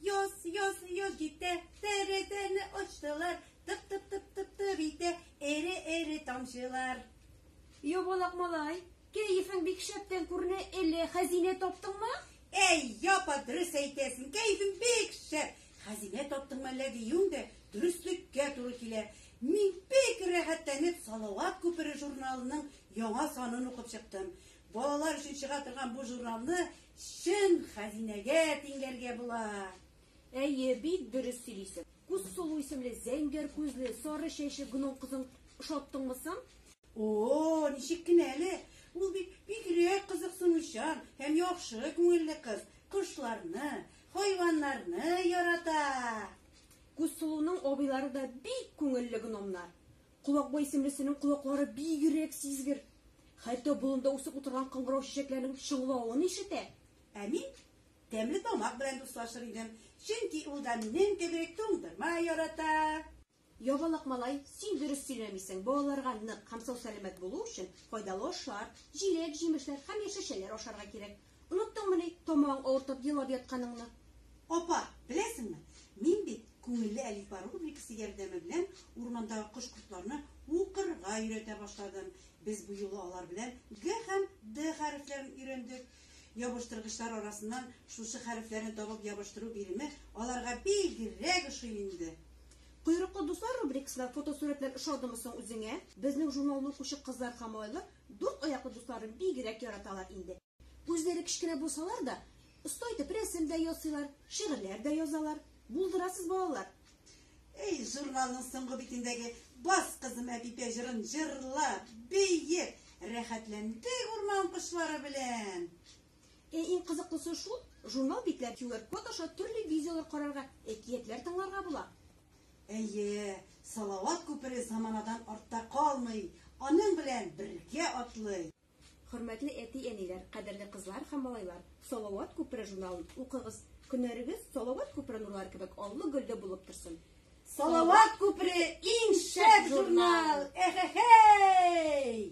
Йоз, йоз, йоз китә, тәрәзәне ачтылар, тып-тып-тып-тып-тып итә, эре-эре тамчылар. Ябалак малай, кәефең бик шәптән күренә, әллә хәзинә таптыңмы? Әй, япа, дөрес әйтәсең, кәефең бик шәп. Хәзинә таптыңмы әллә диюең дә дөреслеккә туры килә. Мин бик рәхәтләнеп Салават күпере журналының яңа санын укып чыктым. Балалар өчен чыга торган бу журналны чын хәзинәгә тиңләргә була. Әйе, бик дөрес сөйлисең. Күз сулу исемле зәңгәр күзле, сары чәчле гном кызын ошаттыңмы соң? О-о, ничек кенә әле! Ул бит бигрәк кызыксынучан һәм яхшы күңелле кыз. Кошларны, хайваннарны ярата. Күз сулуның абыйлары да бик күңелле гномнар. Колакбай исемлесенең колаклары бигрәк сизгер. Хәтта болында үсеп утырган кыңгырау чәчәкләренең чыңлавын ишетә. Ә мин тәмле тамак белән дуслашыр идем, чөнки ул да минем кебек туңдырма ярата. Ябалак малай, син дөрес сөйләмисең, балаларга нык һәм сау-сәламәт булу өчен файдалы ашлар, җиләк-җимешләр һәм яшелчәләр ашарга кирәк. Оныттыңмы ни тамагың авыртып елап ятканыңны? Апа, беләсеңме, мин бит Күңелле әлифба рубрикасы ярдәме белән урмандагы кош-кортларны укырга өйрәтә башладым. Без бу юлы алар белән Г һәм Д хәрефләрен өйрәндек. Ябыштыргычлар арасыннан шушы хәрефләрне табып ябыштыру биреме аларга бигрәк ошый инде. Койрыклы дуслар рубрикасына фотосурәтләр ошадымы соң үзеңә? Безнең журналны укучы кызлар һәм айлы Дүрт аяклы дусларын бигрәк яраталар инде. Үзләре кечкенә булсалар да, оста итеп рәсем дә ясыйлар, шигырьләр дә язалар. Булдырасыз, балалар! Эй, журналның соңгы битендәге Бас, кызым, әпипә җырын җырла, бии! Рәхәтләндек урман кошлары белән! Ә иң кызыклысы шул, журнал битләр QR-код аша төрле видеолар карарга, әкиятләр тыңларга була. Әйе, Салават күпере заманадан артта калмый, аның белән бергә атлый! Хөрмәтле әти-әниләр, кадерле кызлар һәм малайлар, Салават күпере журналын укыгыз, көннәрегез Салават күпере нурлары кебек аллы-гөлле булып торсын! Салават күпере, иң шәп журнал! Эхе-хей!